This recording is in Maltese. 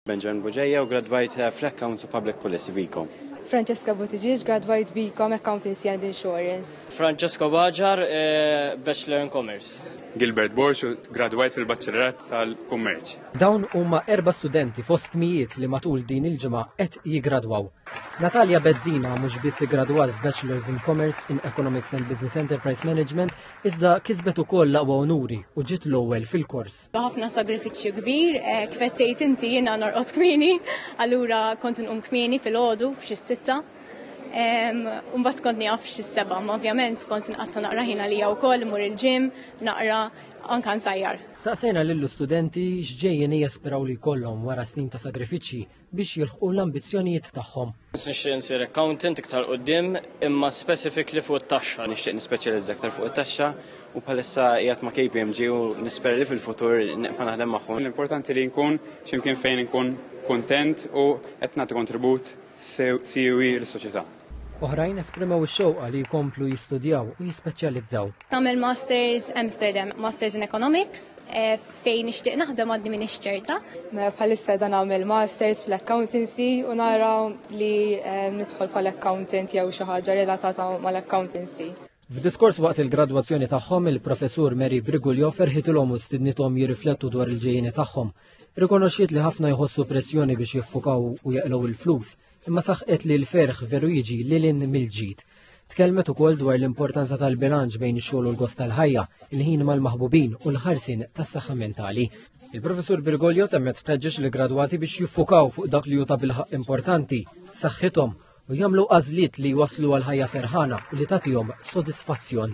Benjamin Bugeja u gradwajt eh, fl-Accounts u Public Policy Biko. Francesca Buttigieg, gradwajt Biko Accountancy and Insurance. Francesco Baġar, eh, Bachelor in Commerce. Gilbert Borx, gradwajt fil-Baċċellerat tal-Kummerċ. Dawn huma erba' studenti fost mijiet li matul din il-ġimgħa qed jiggradwaw. Natalia Bezzina mhux biss iggradwat f'Bachelors in Commerce in Economics and Business Enterprise Management iżda kisbet ukoll l-aqwa unuri u ġiet l-ewwel fil-kors. Ħafna sagrifiċċju kbir, eh, kif qed tgħid inti jiena norqod kmieni, allura kont inqum kmieni fil-għodu f'xi sitta. Mbagħad kont nieqaf xi seba', ma ovvjament kont inqatta' naqra ħin għalija wkoll imur il-ġim, naqra anka nsajjar. Saqsejna lill-istudenti x'ġejjeni jesperaw li jkollhom wara snin ta' sagrifiċċji biex jilħqu l-ambizzjonijiet tagħhom. Nixtieq nsir accountant iktar quddiem imma specifically fuq it-taxxa. Nixtieq nispeċjalizza iktar fuq it-taxxa u bħalissa qiegħed ma' KPMG u nispera li fil-futur nibqa' naħdem magħhom. L-importanti li nkun x'imkien fejn inkun kuntent u qed nagħti kontribut siwi lis-soċjetà. Oħrajn esprimew ix-xewqa li jkomplu jistudjaw u jispeċjalizzaw. Tagħmel Masters Amsterdam, Masters in Economics. Eh, fejn nixtieq naħdem għadni minn ixċerta. Bħalissa dan għamil masters fl-accountancy u nara li eh, nidħol pal accountant jew xi ħaġa relatata mal-accountancy. F'diskors waqt il-gradwazzjoni tagħhom, il-professur Mary Brigulio ferħitilhom u stidnithom jirriflettu dwar il-ġejjini tagħhom. Rikonoxxiet li ħafna jħossu pressjoni biex jiffukaw u jaqlgħu il-flus, imma saħqet li l-ferħ veru jiġi lil hinn mill-ġid. Tkellmet ukoll dwar l-importanza tal-bilanċ bejn ix-xogħol u l-gost tal-ħajja, il-ħin mal-maħbubin u l-ħarsin tas-saħħa mentali. Il-Professur Birgolio temmet tħeġġeġ li gradwati biex jiffukaw fuq dak li juta bilħaq importanti, saħħithom u jagħmlu għażliet li waslu għal ħajja ferħana u li tagħtihom sodisfazzjon.